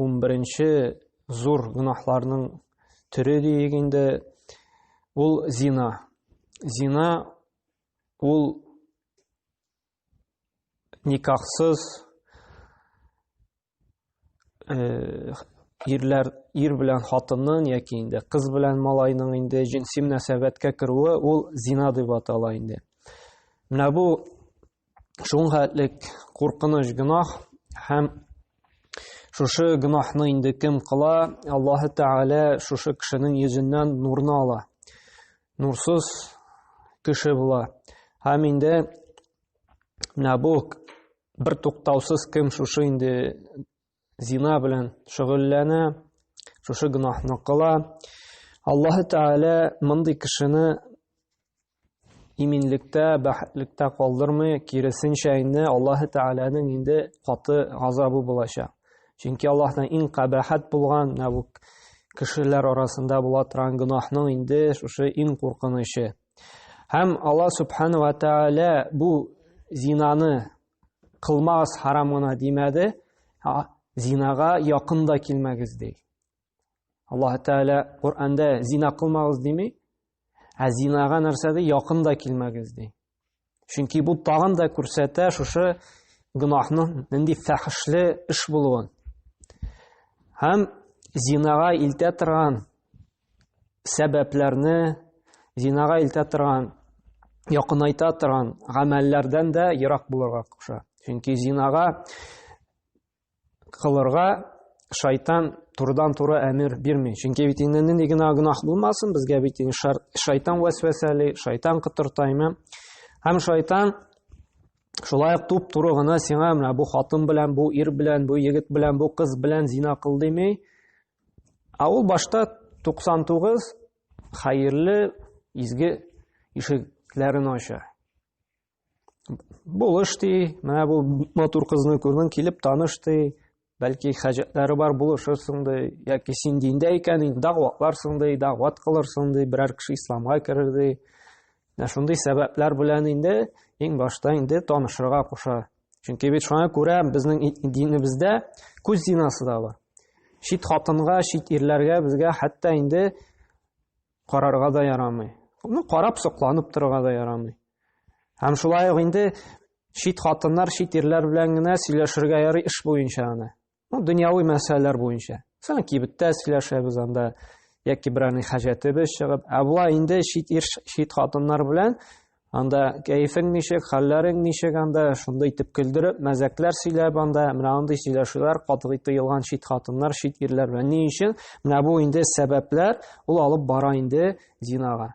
11-нче зур гөнаһларның төре диек инде, ул зина. Зина ул никахсыз э, ирләр ир белән хатынның яки инде кыз белән малайның инде җенси мөнәсәбәткә керүе ул зина дип атала инде. Менә бу шуңа элек куркыныч гөнаһ һәм шушы гөнаһны инде кем кыла, Аллаһ Тәгалә шушы кешенең йөзеннән нурны ала. Нурсыз кеше була. Һәм инде менә бу бер туктаусыз кем шушы инде зина белән шөгыльләнә, шушы гөнаһны кыла. Аллаһ Тәгалә мондый кешене иминлектә, бәхетлектә калдырмый, киресенчә инде Аллаһ Тәгаләнең инде каты газабы булачак. Чөнки Аллаһның иң кабахат булган менә бу кешеләр арасында була торган гөнаһның инде шушы иң куркынычы. Һәм Аллаһ Субхану ва Тәгалә бу зинаны кылмагыз харам гына димәде зинага якын да килмәгез ди аллаһ тәала коранда зина кылмагыз дими ә зинага нәрсә ди якын да килмәгез ди чөнки бу тагын да күрсәтә шушы гөнаһның нинди фәхешле эш булуын һәм зинага илтә торган сәбәпләрне зинага илтә торган, якынайта торган гамәлләрдән дә ерак булырга куша. Чөнки зинага кылырга шайтан турыдан-туры әмер бирми. Чөнки бит инде нинди генә гөнаһ булмасын, безгә бит инде шайтан вәсвәсәли, шайтан кытыртаймы? Һәм шайтан шулай ук туп-туры гына сиңа менә бу хатын белән, бу ир белән, бу егет белән, бу кыз белән зина кыл дими, Ә ул башта 99 хәерле изге ишекләрен ача. Булыш ди, менә бу матур кызны күрдең, килеп таныш ди, бәлки хаҗәтләре бар булышырсың ди, яки син диндә икән, инде дагъватларсың ди, дагъват кылырсың ди, берәр кеше исламга керер ди. Менә шундый сәбәпләр белән инде иң башта инде танышырга куша Чөнки бит шуңа күрә безнең динебездә күз зинасы да бар. Чит хатынга, чит ирләргә безгә хәтта инде карарга да ярамый. Аны карап сокланып торырга да ярамый. Һәм шулай ук инде чит хатыннар, чит ирләр белән генә сөйләшергә ярый эш буенча гына. Ну, дөньяви мәсьәләләр буенча. Мәсәлән, кибеттә сөйләшәбез анда, яки берәрнең хаҗәтебез чыгып, ә була инде чит ир, чит хатыннар белән анда кәефең ничек, хәлләрең ничек анда, шунда итеп көлдереп, мәзәкләр сөйләп анда, менә андый сөйләшүләр катгый тыелган чит хатыннар, чит ирләр белән. Ни өчен? Менә бу инде сәбәпләр, ул алып бара инде зинага.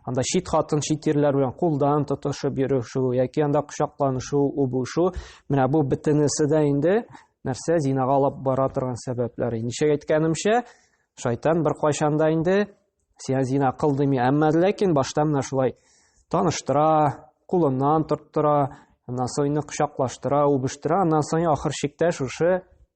анда чит хатын чит ирләр белән кулдан тотышып йөрешү яки анда кочакланышу үбүшү менә бу бөтенесе дә инде нәрсә зинага алып бара торган сәбәпләр ничек әйткәнемчә шайтан беркайчан да инде сиңа зина кыл дими әмма ләкин башта менә шулай таныштыра кулыннан тоттыра аннан соң кочаклаштыра үбештера аннан соң ахыр чиктә шушы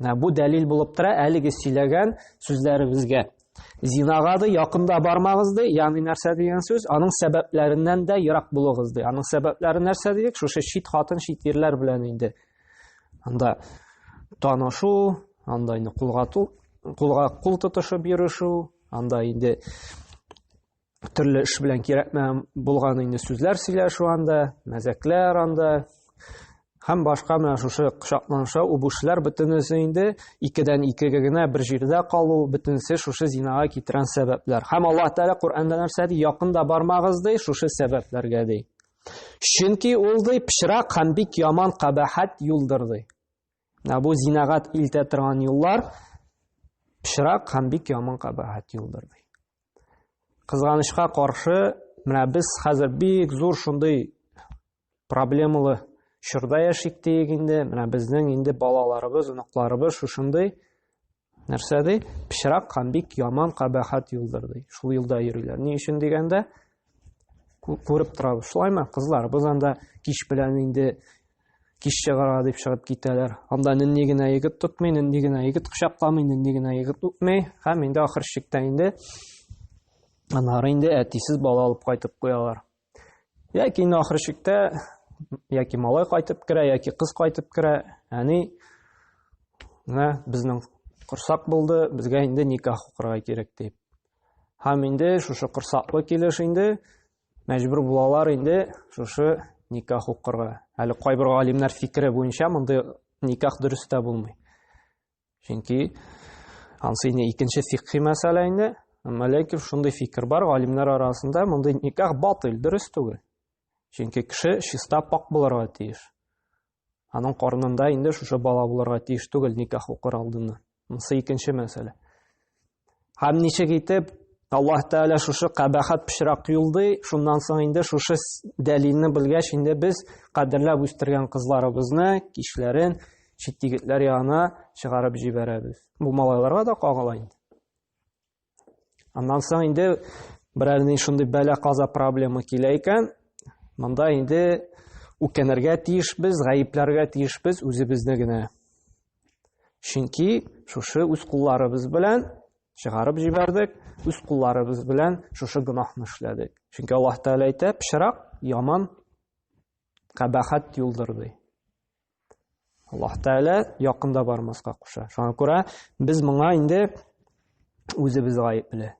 Бу дәлил булып тора әлеге сөйләгән сүзләребезгә. Зинага да якында бармагыз ди, ягъни нәрсә дигән сүз? Аның сәбәпләреннән дә ерак булыгыз ди. Аның сәбәпләре нәрсә дидек? Шушы чит хатын, чит ирләр белән инде. Анда танышу, анда инде кулга кулга кул тотышып йөрешү, анда инде төрле эш белән кирәк булган инде сүзләр сөйләшү анда, мәзәкләр анда һәм башка менә шушы кочакланыша үбүшләр бөтенесе инде икедән икегә генә бер җирдә калу бөтенесе шушы зинага китерән сәбәпләр. Һәм Аллаһ Тәгалә Коръәндә нәрсә ди? Якында бармагыз ди, шушы сәбәпләргә ди. Чөнки ул ди пычрак һәм бик яман кабахат юлдыр ди. Ә бу зинагат илтә торган юллар пычрак һәм бик яман кабахәт юлдыр ди. Кызганычка каршы, менә без хәзер бик зур шундый проблемалы чорда яшик диек инде. Менә безнең инде балаларыбыз, оныкларыбыз шушындый Нәрсә ди? Пычрак һәм бик яман кабахат юлдыр ди. Шул юлда йөриләр. Ни өчен дигәндә, күреп торабыз. Шулаймы, кызлар? Без анда кич белән инде кич чыгара дип чыгып китәләр. Анда нинди генә егет тотмый, нинди генә егет кочакламый, нинди генә егет үпми. Һәм инде ахыр чиктә инде анары инде әтисез бала алып кайтып куялар. Яки инде ахыр чиктә яки малай кайтып керә, яки кыз кайтып керә, әни менә безнең корсак булды, безгә инде никах укырга кирәк дип. Һәм инде шушы корсаклы килеш инде мәҗбүр булалар инде шушы никах укырга. Әле кайбер галимнәр фикере буенча мондый никах дөрес тә булмый. Чөнки ансы инде икенче фикхи мәсьәлә инде. Әмма ләкин шундый фикер бар галимнәр арасында, мондый никах батыл, дөрес түгел. Чөнки кеше чиста пак булырга тиеш. Аның карнында инде шушы бала булырга тиеш түгел никах укыр алдыннан. Монысы икенче мәсьәлә. Һәм ничек итеп Аллаһ Тәгалә шушы кабахат пычрак юлды, шуннан соң инде шушы дәлилне белгәч, инде без кадерләп үстергән кызларыбызны, кичләрен чит егетләр янына чыгарып җибәрәбез. Бу малайларга да кагыла инде. Аннан соң инде берәр ни шундый бәла каза проблема килә икән, монда инде үкенергә тиешбез, гаепләргә тиешбез үзебезне генә. Чөнки шушы үз кулларыбыз белән чыгарып җибәрдек, үз кулларыбыз белән шушы гөнаһны эшләдек. Чөнки Аллаһ Тәгалә әйтә, пычрак яман кабахат юлдыр ди. Аллаһ Тәгалә якында бармаска куша. Шуңа күрә без моңа инде үзебез гаепле.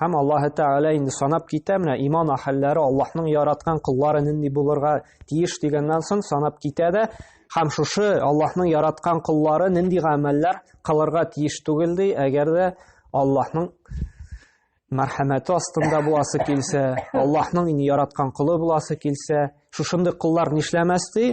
Һәм Аллаһы Тәгалә инде санап китә, менә иман ахәлләре Аллаһның яраткан куллары нинди булырга тиеш дигәннән соң санап китә дә, һәм шушы Аллаһның яраткан куллары нинди гамәлләр кылырга тиеш түгел ди, әгәр дә Аллаһның мәрхәмәте астында буласы килсә, Аллаһның инде яраткан кулы буласы килсә, шушындый куллар нишләмәс ди?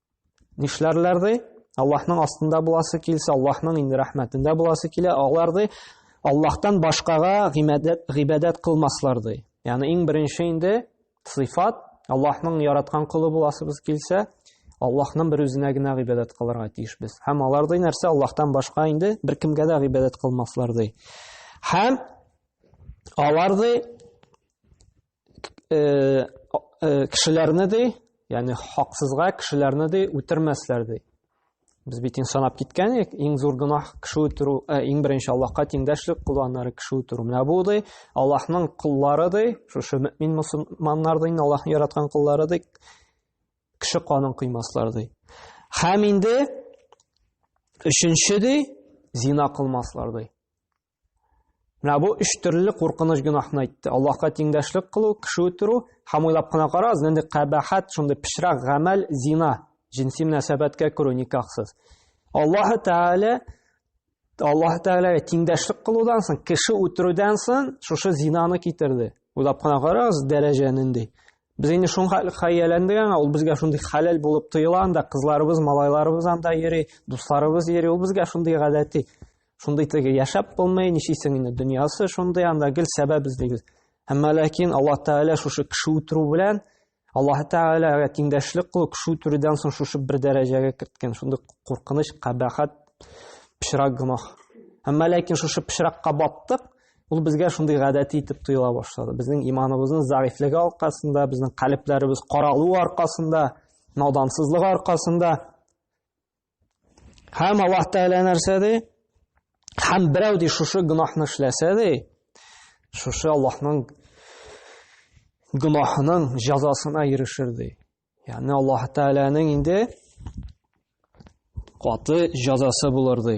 Нишләрләр ди? Аллаһның астында буласы килсә, Аллаһның инде рәхмәтендә буласы килә, алар ди Аллаһтан башкага гыйбадәт гыйбадәт кылмаслар ди. Ягъни иң беренче инде сыйфат Аллаһның яраткан кулы буласыбыз килсә, Аллаһның бер үзенә генә гыйбадәт кылырга тиеш без. Һәм алар ди нәрсә Аллаһтан башка инде бер кемгә дә гыйбадәт кылмаслар ди. Һәм алар ди э, э, кешеләрне ди яғни хақсызға кешеләрне ди үтермәсләр ди без бит санап киткән едік иң зур гүнах кеше үтеру ә, иң беренче аллаһка тиңдәшлек кылу аннары кеше үтеру менә бу ди аллаһның куллары ди шушы мөмин мөселманнар ди аллаһның яраткан куллары ди кеше канын кыймаслар ди һәм инде өченче ди зина кылмаслар ди Менә бу өч төрле куркыныч гөнаһны әйтте. Аллаһка тиңдәшлек кылу, кеше үтерү һәм уйлап кына карагыз, нинди кабахат, шундый пычрак гамәл зина, җинси мөнәсәбәткә керү никахсыз. Аллаһ Тәгалә Аллаһ Тәгаләгә тиңдәшлек кылудан соң, кеше үтерүдән соң шушы зинаны китерде. Уйлап кына карагыз, дәрәҗә нинди. Без инде шуңа хәяләндек аңа, ул безгә шундый хәләл булып тоела анда, кызларыбыз, малайларыбыз анда йөри, дусларыбыз йөри, ул безгә шундый гадәти. шундый теге яшәп булмый ничисең инде дөньясы шундый анда гел сәбәп эзлибез әмма ләкин аллаһ тәгалә шушы кеше үтерү белән аллаһ тәгаләгә тиңдәшлек кылу кеше үтерүдән соң шушы бер дәрәҗәгә керткән шундый куркыныч кабахат пычрак гөнаһ әмма ләкин шушы пычракка баттык ул безгә шундый гадәти итеп тоела башлады безнең иманыбызның зәгыйфьлеге аркасында безнең калебләребез каралу аркасында надансызлык аркасында Һәм Аллаһ Тәгалә нәрсә ди? Һәм берәү ди шушы гөнаһны эшләсә ди, шушы Аллаһның гөнаһының җәзасына ирешер ди. Ягъни Аллаһ Тәгаләнең инде каты җәзасы булыр ди.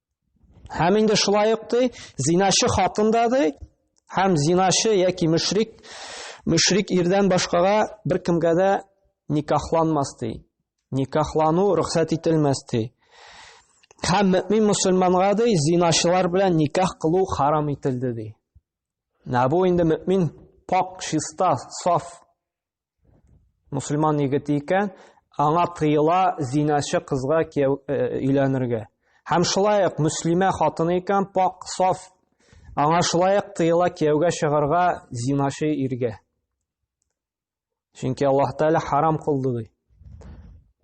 Һәм инде шулай ук ди, зиначы хатын да ди, һәм зиначы яки мөшрик, мөшрик ирдән башкага бер кемгә дә никахланмас ди. Никахлану рөхсәт ителмәс ди. Һәм мөмин мусульманга ди, зиначылар белән никах кылу харам ителде ди. Нәбу инде мөмин пак, чиста, саф Мусульман егете икән, аңа тыела зиначы кызга кияү э, өйләнергә. Һәм шулай ук мөслимә хатыны икән, пак, саф, аңа шулай ук тыела кияүгә чыгарга зиначы иргә. Чөнки Аллаһ Тәгалә харам кылды ди.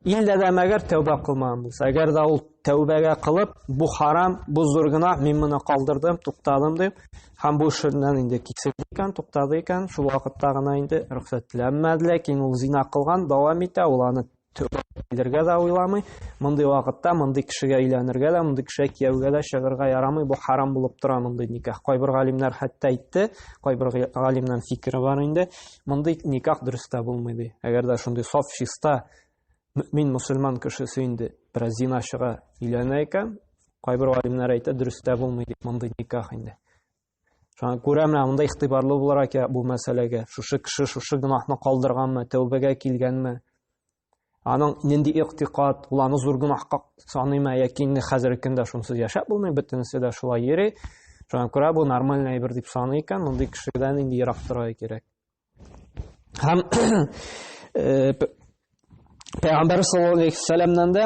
Илдә дә мәгәр тәүбә кылмаган булса, әгәр дә ул тәүбәгә кылып, бу харам, бу зур гына, мин моны калдырдым, туктадым дип, һәм бу эшеннән инде кисерде икән, туктады икән, шул вакытта гына инде рөхсәт теләнмәде, ләкин ул зина кылган, дәвам итә, ул аны килергә дә уйламый. Мондый вакытта мондый кешегә өйләнергә дә, мондый кешегә кияүгә дә чыгарга ярамый. Бу харам булып тора мондый никах. Кайбер галимнәр хәтта әйтте, кайбер галимнән фикере бар инде. Мондый никах дөрес тә булмый, ди. Әгәр дә шундый саф, чиста, мөмин мусульман кешесе инде бераз зиначыга өйләнә икән, кайбер галимнәр әйтә, дөрес тә булмый, ди, мондый никах инде. Шуңа күрә менә монда игътибарлы буларак я бу мәсьәләгә, шушы кеше шушы гөнаһны калдырганмы, тәүбәгә килгәнме, Аның нинди иктикад, ул аны зур гөнаһка саныймы яки инде хәзерге көндә шунсыз яшәп булмый, бөтенесе дә шулай йөри. Шуңа күрә бу нормаль әйбер дип саный икән, мондый кешедән инде ерак торырга кирәк. Һәм э, Пәйгамбәр саллаллаху алейхи ва саллямнан да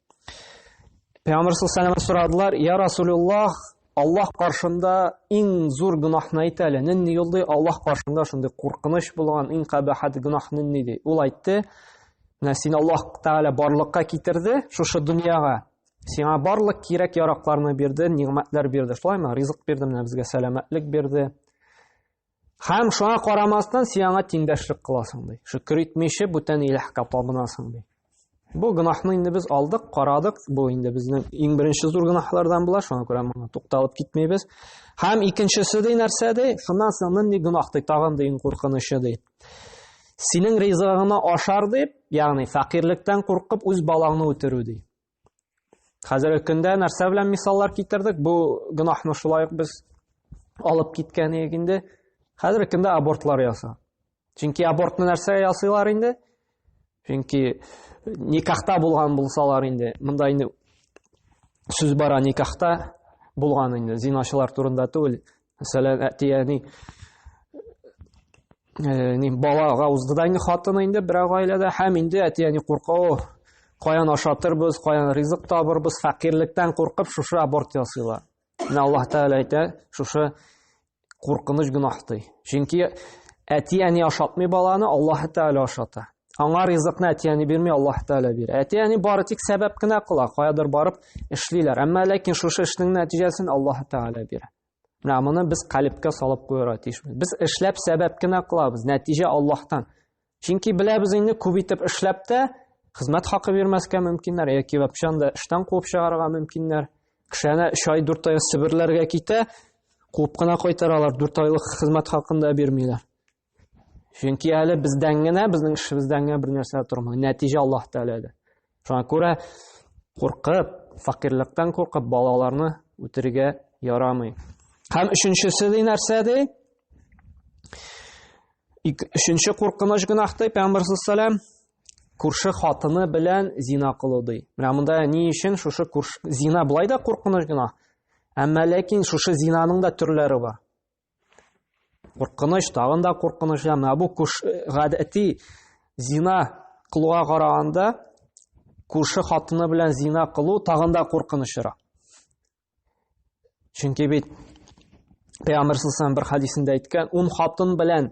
Пәйгамбер саллаллаху алейһи сорадылар, "Я Расулуллах, Аллаһ каршында иң зур гөнаһны әйт әле. Нинди юл ди? Аллаһ каршында шундый куркыныч булган иң кабахат гөнаһ нинди ди?" Ул әйтте, "Менә син Аллаһ Тәгалә барлыкка китерде шушы дөньяга. Сиңа барлык кирәк яракларны бирде, нигъмәтләр бирде. Шулаймы? Ризык бирде, менә безгә сәламәтлек бирде. Һәм шуңа карамастан син аңа тиңдәшлек кыласың ди. Шөкер итмичә бүтән иләһкә табынасың ди. Бу гөнаһны инде без алдык, карадык. Бу инде безнең иң беренче зур гөнаһлардан була, шуңа күрә моңа тукталып китмибез. Һәм икенчесе ди нәрсә ди? Шуннан соң нинди гөнаһ ди, тагын ди иң куркынычы ди. Синең ризыгыңны ашар дип, ягъни фәкыйрьлектән куркып үз балаңны үтерү ди. Хәзерге көндә нәрсә белән мисаллар китердек? Бу гөнаһны шулай ук без алып киткән идек инде. Хәзерге көндә абортлар яса. Чөнки абортны нәрсә ясыйлар инде? Чөнки никахта булган булсалар инде, монда инде сүз бара никахта булган инде, зиначылар турында түгел, Мәсәлән, әти әни Э, не балага узды да инде хатын инде берәү гаиләдә һәм инде әти әни курка о каян ашатырбыз каян ризык табырбыз фәкыйрьлектән куркып шушы аборт ясыйлар менә аллаһ тәгалә әйтә шушы куркыныч гөнаһ ди чөнки әти әни ашатмый баланы аллаһ тәгалә ашата Аңа ризыкны әтияне бирми Аллаһ Тәгалә бирә. Әтияне бары тик сәбәп кенә кыла, каядыр барып эшлиләр. Әмма ләкин шушы эшнең нәтиҗәсен Аллаһ Тәгалә бирә. Менә моны без калибкә салып куярга тиешбез. Без эшләп сәбәп кенә кылабыз, нәтиҗә Аллаһтан. Чөнки беләбез инде күп итеп эшләп тә хезмәт хакы бирмәскә мөмкиннәр, яки вообще анда эштән куып чыгарырга мөмкиннәр. Кешене 3 ай 4 ай сиберләргә китә, куып кына кайтаралар, 4 айлык хезмәт хакында бирмиләр. Чөнки әле бездән генә, безнең эшебездән генә бер нәрсә тормый. Нәтиҗә Аллаһ Тәгаләдә. Шуңа күрә куркып, факирлектән куркып балаларны үтерергә ярамый. Һәм өченчесе ди нәрсә ди? Өченче куркыныч гөнаһ ди Пәйгамбәр саллаллаһу күрше хатыны белән зина кылу ди. Менә монда ни өчен шушы күрш... зина былай да куркыныч гөнаһ. Әмма ләкин шушы зинаның да төрләре бар. Куркыныч, тагын да куркыныч. Әмма бу күш э, гадәти зина кылуга караганда күрше хатыны белән зина кылу тагын да куркынычрак. Чөнки бит Пәйгамбер саллаллаху бер хадисендә әйткән, ун хатын белән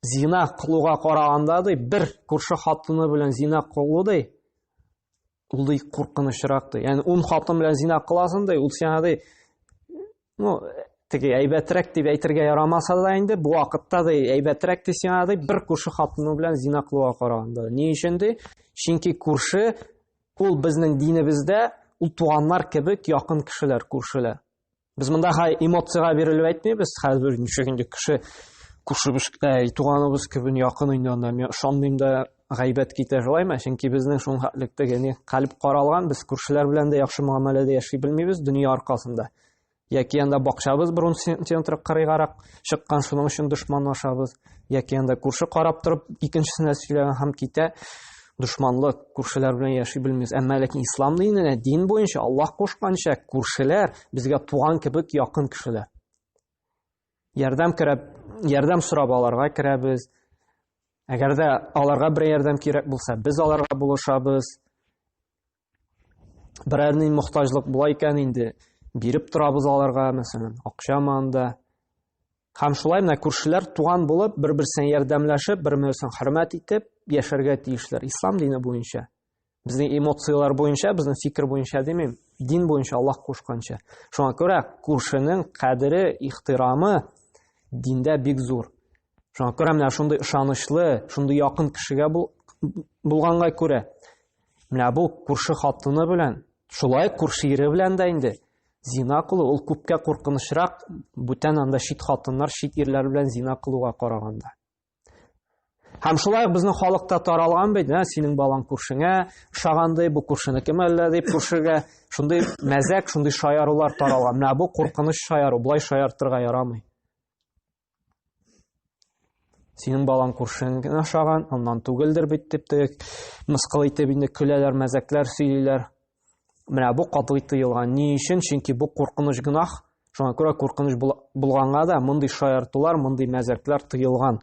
зина кылуга караганда ди, бер күрше хатыны белән зина кылу ди, Ул ди куркынычрак ди. Ягъни ун хатын белән зина кыласың ди, ул сиңа ди ну, теге әйбәтрәк дип әйтергә ярамаса да инде, бу вакытта да әйбәтрәк ди сиңа ди, бер күрше хатыны белән зина кылуга караганда. Ни өчен ди? Чөнки күрше ул безнең динебездә ул туганнар кебек якын кешеләр, күршеләр. Без монда хай эмоцияга бирелеп әйтмибез. Хәзер ничек инде кеше күршебез, әй, туганыбыз кебек якын инде анда. Мин ышанмыйм да гайбәт китә шулаймы? Чөнки безнең шуның хәтлектә яни калб каралган, без күршеләр белән дә яхшы мөгамәләдә яши белмибез дөнья аркасында. Яки анда бакчабыз бронзентентры кырыйгарак чыккан, шуның өчен дошманлашабыз. яки анда күрше карап торып икенчесенә сөйләгән һәм китә дошманлык күршеләр белән яши белмибез әмма ләкин ислам диненә дин буенча аллаһ кушканча күршеләр безгә туган кебек якын кешеләр ярдәм керәп ярдәм сорап аларга керәбез әгәр дә аларга бер ярдәм кирәк булса без аларга булышабыз берәр ни мохтаҗлык була икән инде биреп торабыз аларга мәсәлән акча манда һәм шулай менә күршеләр туган булып бер берсен ярдәмләшеп бер берсен хөрмәт итеп яшәргә тиешләр ислам дине буенча безнең эмоцияләр буенча безнең фикер буенча димим дин буенча аллаһ кушканча шуңа күрә күршенең кадере ихтирамы диндә бик зур Шуңа күрә менә шундый ышанычлы, шундый якын кешегә бул, булганга күрә, менә бу күрше хатыны белән, шулай күрше ире белән дә инде зина кылу ул күпкә куркынычрак бүтән анда чит хатыннар, чит ирләр белән зина кылуга караганда. Һәм шулай ук безнең халыкта таралган бит, ә синең балаң күршеңә ошагандай, бу күршенеке мәллә дип күршегә шундый мәзәк, шундый шаярулар таралган. Менә бу куркыныч шаяру, болай шаяртырга ярамый. Синең балаң күршең генә ашаган, аннан түгелдер бит дип тек мыскыл итеп инде көләләр, мәзәкләр сөйлиләр. Менә бу катгый тыелган. Ни өчен? Чөнки бу куркыныч гынах. Шуңа күрә куркыныч булганга да мондый шаяртулар, мондый мәзәкләр тыелган.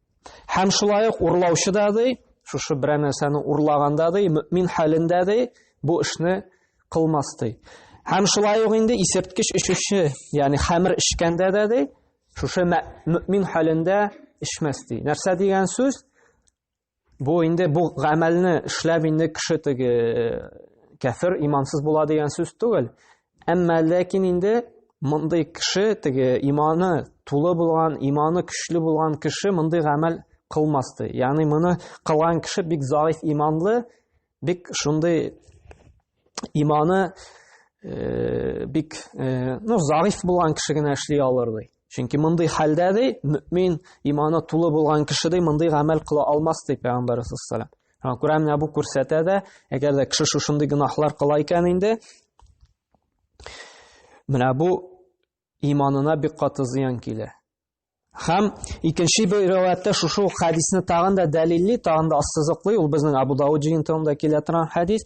Һәм шулай ук урлаучы да ди, шушы берәр нәрсәне урлаганда ди, мөмин хәлендә ди, бу эшне кылмас ди. Һәм шулай ук инде исерткеч эчүче, ягъни хәмер эчкәндә дә ди, шушы мөмин хәлендә эчмәс ди. Нәрсә дигән сүз? Бу инде бу гамәлне эшләп инде кеше теге э, кәфер, имансыз була дигән сүз түгел. Әмма ләкин инде мондый кеше теге иманы тулы булган, иманы көчле булган кеше мондый гамәл кылмасты. Ягъни моны кылган кеше бик заиф иманлы, бик шундый иманы э, бик э, ну заиф булган кеше генә эшли алыр ди. Чөнки мондый хәлдә ди, мөмин иманы тулы булган кеше ди, мондый гамәл кыла алмас ди Пәйгамбәрбез саллаллаһу алейһи Күрә менә бу күрсәтә дә, әгәр дә кеше шушындый гөнаһлар кыла икән инде, менә бу иманына бик каты зыян килә. Хәм икенче бер риваятта шушы ук хәдисне тагын да дәлилли, тагын да ассызыклый, ул безнең Абу Дауд җыентыгында килә торган хәдис.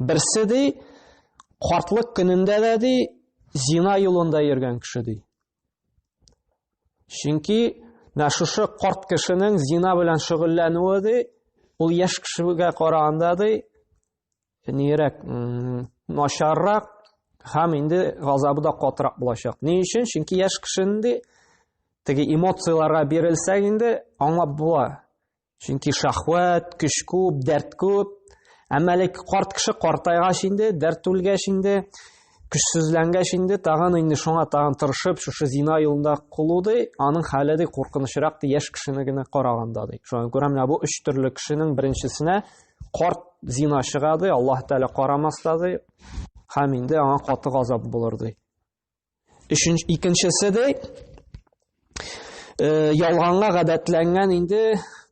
Берсе ди, картлык көнендә дә ди, зина юлында йөргән кеше ди. Чөнки менә шушы карт кешенең зина белән шөгыльләнүе ди, ул яшь кешегә караганда ди, нирәк, начаррак һәм инде газабы да катырак булачак. Ни өчен? Чөнки яшь кешенең ди, теге эмоцияләргә бирелсәң инде аңлап була. Чөнки шахват, көч күп, дәрт күп. Әмма әле карт кеше картайгач инде, дәрт түлгәч инде, көчсезләнгәч инде, тагын инде шуңа тагын тырышып, шушы зина юлында кулу ди, аның хәле ди куркынычрак ди, яшь кешене генә караганда ди. Шуңа күрә менә бу өч төрле кешенең беренчесенә карт зина чыга ди, Аллаһ Тәгалә карамас та ди, һәм инде аңа каты газап булыр ди. Өченче икенчесе дә э, ялганга гадәтләнгән инде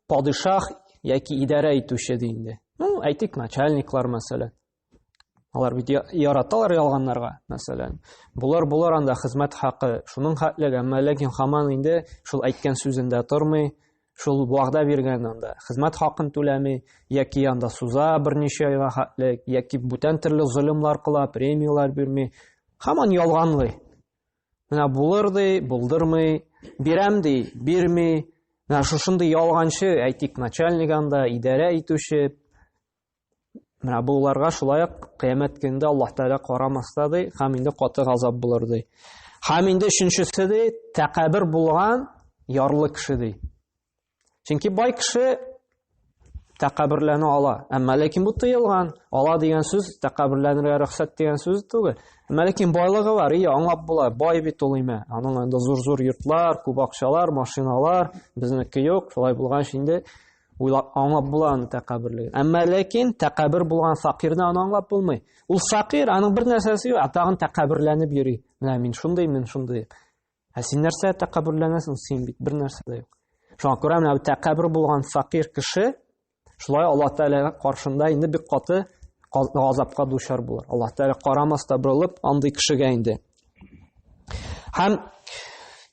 падишах яки идарә итүче ди инде. Ну, әйтик, начальниклар мәсәлән. Алар бит яраталар ялганнарга, мәсәлән. Булар булар анда хезмәт хакы, шуның хәтлеге, әмма ләкин хаман инде шул әйткән сүзендә тормый, шул вәгъдә биргән анда хезмәт хакын түләми яки анда суза берничә айга хәтле яки бүтән төрле золымлар кыла премияләр бирми һаман ялганлый менә булыр ди булдырмый бирәм ди бирми менә шушындый ялганчы әйтик начальник анда идарә итүче Менә буларга шулай ук кыямәт көнендә Аллаһ Тәгалә карамас та ди, һәм инде каты газап булыр ди. Һәм инде өченчесе ди, тәкәбер булган ярлы кеше ди. Чөнки бай кеше тәкәберләнә ала. Әмма ләкин бу тыелган. Ала дигән сүз тәкәберләнергә рөхсәт дигән сүз түгел. Әмма ләкин байлыгы бар, ие, аңлап була, бай бит ул име. Аның анда зур-зур йортлар, күп акчалар, машиналар, безнеке юк. Шулай булгач инде Уйлап, аңлап була аны тәкәбберлеген. Әмма ләкин тәкәббер булган факирне аны аңлап булмый. Ул факир, аның бер нәрсәсе юк, ә тагын тәкәбберләнеп йөри. Менә мин шундый, мин шундый. Ә син нәрсә тәкәбберләнәсең? Син бит бер нәрсә дә юк. Шуңа күрә менә тәкәббер булган факир кеше шулай Алла Тәгалә каршында инде бик каты газапка дучар булыр. Алла Тәгалә карамаста борылып андый кешегә инде. Һәм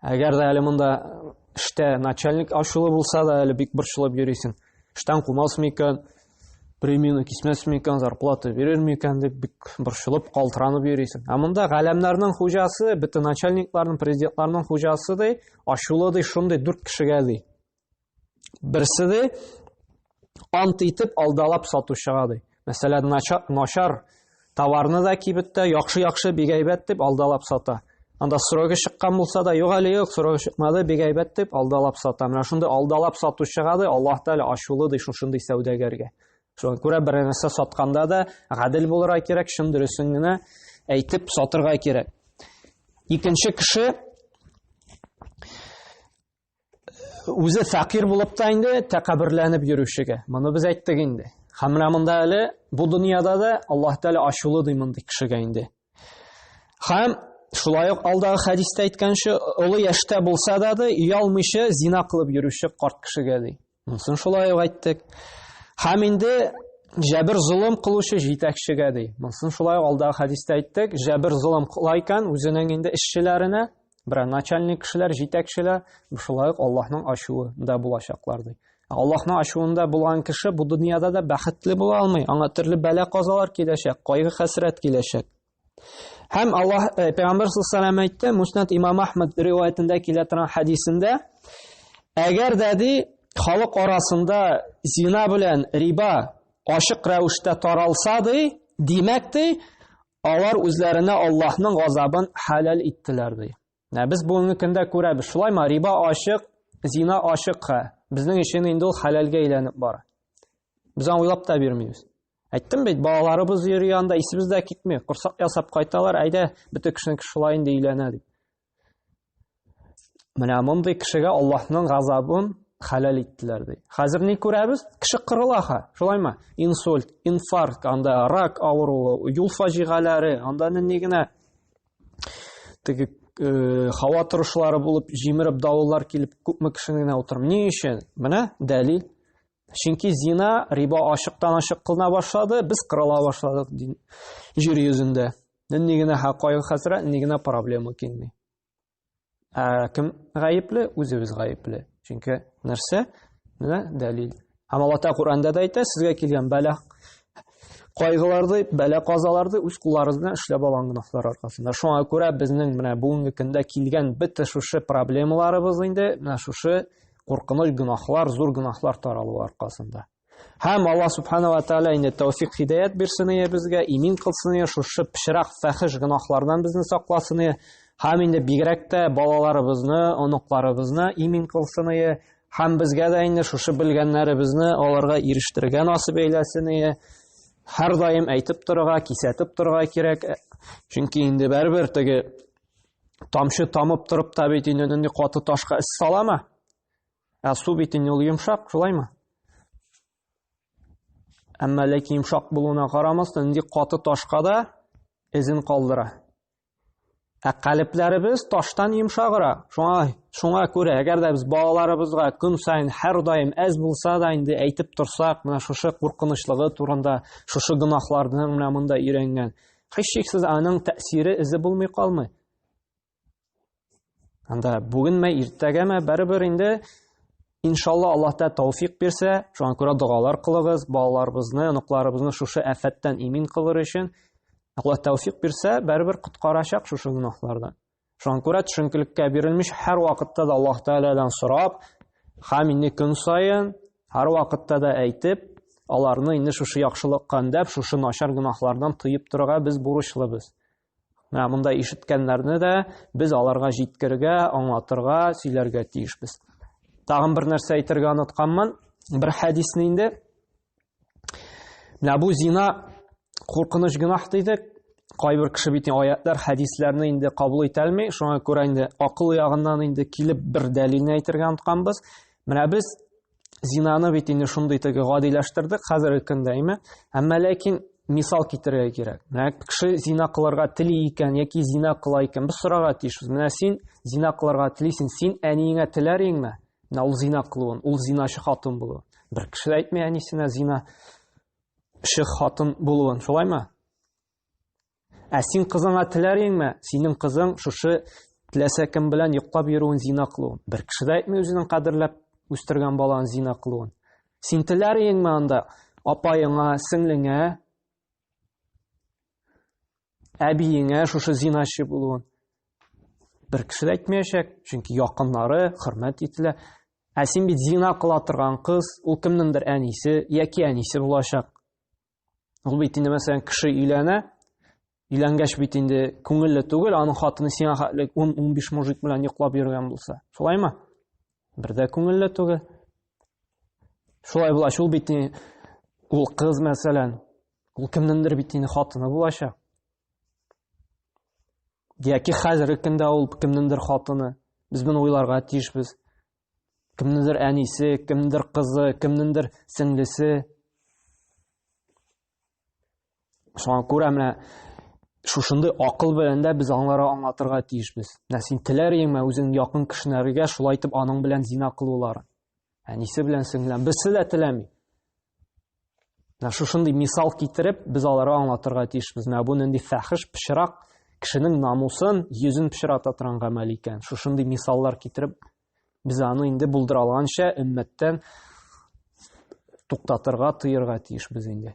Әгәр дә әле монда эштә начальник ачулы булса да, әле бик борчылып йөрисең. Эштән кумасмы икән, премияны кисмәсме икән, зарплата бирерме икән дип бик борчылып, калтыранып йөрисең. Ә монда галәмнәрнең хуҗасы, бөтен начальникларның, президентларның хуҗасы ди, ачулы ди, шундый дүрт кешегә ди. Берсе дә ант итеп алдалап сатучыга ди. Мәсәлән, начар товарны да кибеттә яхшы-яхшы бик әйбәт дип алдалап сата. Анда срогы чыккан булса да, юк әле юк, срогы чыкмады, бик әйбәт дип алдалап сата. Менә шундый алдалап сатучыга да Аллаһ Тәгалә ачулы ди шушындый сәүдәгәргә. Шуңа күрә бер нәрсә сатканда да гадел булырга кирәк, чын дөресен генә әйтеп сатырга кирәк. Икенче кеше үзе фәкыйрь булып та инде тәкәбберләнеп йөрүчегә. Моны без әйттек инде. Һәм менә монда әле бу дөньяда да Аллаһ Тәгалә ачулы ди мондый кешегә инде. Һәм шулай ук алдагы хәдистә әйткәнчә, олы яшьтә булса да ди, оялмыйча зина кылып йөрүче карт кешегә ди. Монысын шулай ук әйттек. Һәм инде җәбер золым кылучы җитәкчегә ди. Монысын шулай ук алдагы хәдистә әйттек. Җәбер золым кыла икән үзенең инде эшчеләренә, бер начальник кешеләр, җитәкчеләр, шулай ук Аллаһның ачуы да булачаклар ди. Аллаһның ачуында булган кеше бу дөньяда да бәхетле була алмый. Аңа төрле бәла-казалар киләчәк, кайгы-хәсрәт киләчәк. Һәм Аллаһ э, Пәйгамбер саллаллаху алейһи әйтте, Муснат имам Ахмад риваятендә килә торган хадисендә, әгәр дә ди халык арасында зина белән риба ашык рәвештә таралса ди, димәк ди, алар үзләренә Аллаһның газабын хәләл иттеләр ди. Ә без бүгенге көндә күрәбез, шулаймы? Риба ашык, зина ашык. Безнең өчен инде ул хәләлгә әйләнеп бара. Без аны уйлап та бирмибез. Әйттем бит, балаларыбыз йөри анда, исебез дә китми. Корсак ясап кайталар, әйдә, бөтен кешенең шулай инде өйләнә дип. Менә мондый кешегә Аллаһның газабын хәләл иттеләр ди. Хәзер ни күрәбез? Кеше кырыла ха, шулаймы? Инсульт, инфаркт, анда рак авыруы, юл фаҗигаләре, анда ни генә теге э, һава торышлары булып, җимереп давыллар килеп, күпме кешене генә утырмый. Ни өчен? Менә дәлил. Чөнки зина, риба ачыктан-ачык кылына башлады, без кырыла башладык җир йөзендә. Нинди генә хакайгы хәсрәт, нинди генә проблема килми. Ә кем гаепле? Үзебез гаепле. Чөнки нәрсә? Менә дәлил. Һәм Алла Тәгалә Коранда да әйтә, сезгә килгән бәла кайгыларды, бәла казаларды үз кулларыгыз белән эшләп алган гөнаһлар аркасында. Шуңа күрә безнең менә бүгенге көндә килгән бөтен шушы проблемаларыбыз инде менә шушы куркыныч гөнаһлар, зур гөнаһлар таралу аркасында. Һәм Аллаһ субхана ва тааля инде тәүфик хидаят бирсен ие безгә, имин кылсын ие, шушы пешрак фәхиш гөнаһлардан безне сакласын ие. Һәм инде бигрәк тә балаларыбызны, оныкларыбызны имин кылсын ие. Һәм безгә дә инде шушы белгәннәребезне аларга ирештерергә насып әйләсен ие. Һәр даим әйтеп торырга, кисәтеп торырга кирәк. Чөнки инде бәрбер теге тамчы тамып торып та бит инде нинди каты ташка эс салама ә су бит инде ул йомшак шулаймы әмма ләкин йомшак булуына карамастан нинди каты ташка да эзен калдыра ә калебләребез таштан йомшагыра шуңа шуңа күрә әгәр дә без балаларыбызга көн сайын һәрдаим әз булса да инде әйтеп торсак менә шушы куркынычлыгы турында шушы гөнаһларны менә монда өйрәнгән Һичшиксез аның тәэсире эзе булмый калмый. Анда бүгенме, иртәгәме, барыбер инде иншалла Аллаһ та тауфик бирсә, шуңа күрә догалар кылыгыз, балаларыбызны, оныкларыбызны шушы афәттән имин кылыр өчен. Аллаһ тауфик бирсә, барыбер коткарачак шушы гөнаһлардан. Шуңа күрә төшенкелеккә бирелмеш һәрвакытта да Аллаһ Тәгаләдән сорап, һәм инде көн саен һәрвакытта да әйтеп, аларны инде шушы яхшылыкка өндәп, шушы начар гөнаһлардан тыеп торырга без бурычлыбыз. Менә монда ишеткәннәрне дә без аларга җиткергә, аңлатырга, сөйләргә тиешбез. Тагын бер нәрсә әйтергә онытканмын, бер хәдисне инде Менә бу зина куркыныч гөнаһ дидек. Кайбер кеше бит аятлар, хәдисләрне инде кабул итә алмый. Шуңа күрә инде акыл ягыннан инде килеп бер дәлилне әйтергә онтканбыз. Менә без зинаны бит инде шундый теге гадиләштердек хәзерге көндә, әйме? Әмма ләкин мисал китерергә кирәк. Менә кеше зина кылырга тели икән яки зина кыла икән, без сорарга тиешбез. Менә син зина кылырга телисең, син әниеңә теләр инеңме? Менә ул зина кылуын, ул зиначы хатын булуын. Бер кеше дә әйтми әнисенә зина шы хатын булуын, шулаймы? Ә син кызыңа теләр идеңме? Синең кызың шушы теләсә кем белән йоклап йөрүен зина кылуын. Бер кеше дә әйтми үзенең кадерләп үстергән баланы зина кылуын. Син теләр идеңме анда апаеңа, сеңлеңә әбиеңә шушы зиначы булуын бер кеше дә әйтмәячәк чөнки якыннары хөрмәт ителә ә син бит зина кыла торган кыз ул кемнеңдер әнисе яки әнисе булачак ул бит инде мәсәлән кеше өйләнә өйләнгәч бит инде күңелле түгел аның хатыны сиңа хәтле ун ун биш мужик белән йоклап йөргән булса шулаймы бер дә күңелле түгел шулай булгач ул бит ул кыз мәсәлән Ул кемнеңдер бит инде хатыны булачак. Яки хәзерге көндә ул кемнеңдер хатыны. Без моны уйларга тиешбез. Кемнеңдер әнисе, кемнеңдер кызы, кемнеңдер сеңлесе. Шуңа күрә менә шушындый акыл белән дә без аңлара аңлатырга тиешбез. Менә син теләр идеңме үзең якын кешеләргә шулай итеп аның белән зина кылуларын? Әнисе белән сеңлән берсе дә теләми. Шушындый мисал китереп, без аларга аңлатырга тиешбез. Менә бу нинди фәхиш пычрак, кешенең намусын, йөзен пычрата торган гамәл икән. Шушындый мисаллар китереп, без аны инде булдыра алганча өммәттән туктатырга, тыерга тиешбез инде.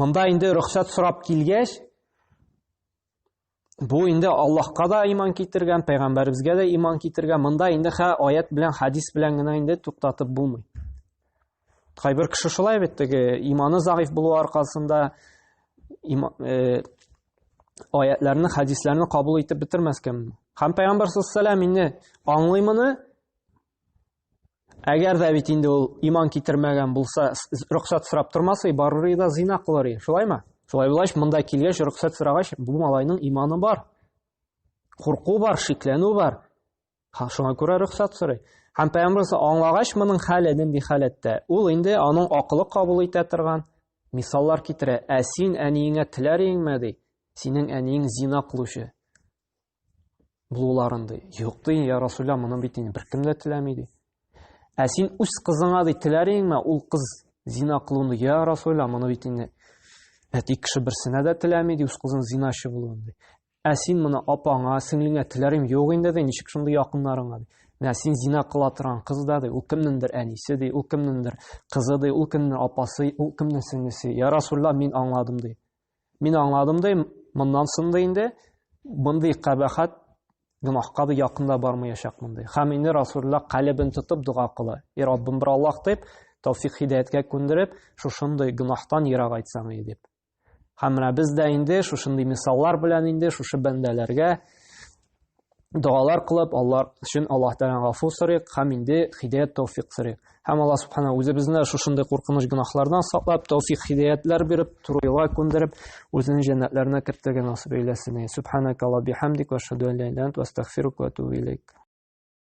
Монда инде рөхсәт сорап килгәч, бу инде Аллаһка да иман китергән, пәйгамбәребезгә дә иман китергән. Монда инде хә аят белән, хадис белән генә инде туктатып булмый. Кайбер кеше шулай бит теге иманы заиф булу аркасында има, э, аятларны, хадисларны кабул итеп бетермәскә мөмкин. Һәм пәйгамбәр саллаллаһу алейһи ва инде аңлый моны, Әгәр дә бит инде ул иман китермәгән булса, рөхсәт сорап тормас и, барыр и да зина кылыр и. Шулаймы? Шулай булгач, монда килгәч, рөхсәт сорагач, бу малайның иманы бар. Курку бар, шикләнү бар. Ха, шуңа күрә рөхсәт сорый. Һәм пәйгамбер аңлагач моның хәле нинди халәттә? Ул инде аның акылы кабул итә торган мисаллар китерә. Ә син әниеңә теләр иңме ди? Синең әниең зина кылучы. булуларын ди. Юк ди, я Расулла, моны бит инде беркем дә теләми ди. Ә син үз кызыңа ди теләр идеңме? Ул кыз зина кылуын, я Расулла, моны бит инде әти кеше берсенә дә теләми ди, үз кызын зиначы булуын ди. Ә син моны апаңа, сеңлеңә теләр идең, юк инде ди, ничек шундый якыннарыңа ди. Менә син зина кыла торган кыз да ди, ул кемнеңдер әнисе ди, ул кемнеңдер кызы ди, ул кемнең апасы, ул кемнең сеңлесе. Я Расулла, мин аңладым ди. Мин аңладым да, моннан соң да инде мондый кабахат гөнаһка да якында бармаячак мондый. Хәм инде Расулла калебен тотып дога кыла. И Раббым бер Аллах дип, тәүфик хидаяткә күндереп, шушындый гөнаһтан ерак айтсаң и дип. Хәм менә без дә инде шушындый мисаллар белән инде шушы бәндәләргә догалар кылып, Аллар өчен Аллаһ Тәгалә гафу сорыйк һәм инде хидәят тәүфик сорыйк. Һәм Аллаһ Субхана үзебезне шушындый куркыныч гөнаһлардан саклап, тәүфик хидәятләр биреп, туры юлга күндереп, үзенең җәннәтләренә кертергә насыйп әйләсен. Субханакалла бихамдик ва шаду ла илаһ илля ант ва астагфирук ва атубу илейк.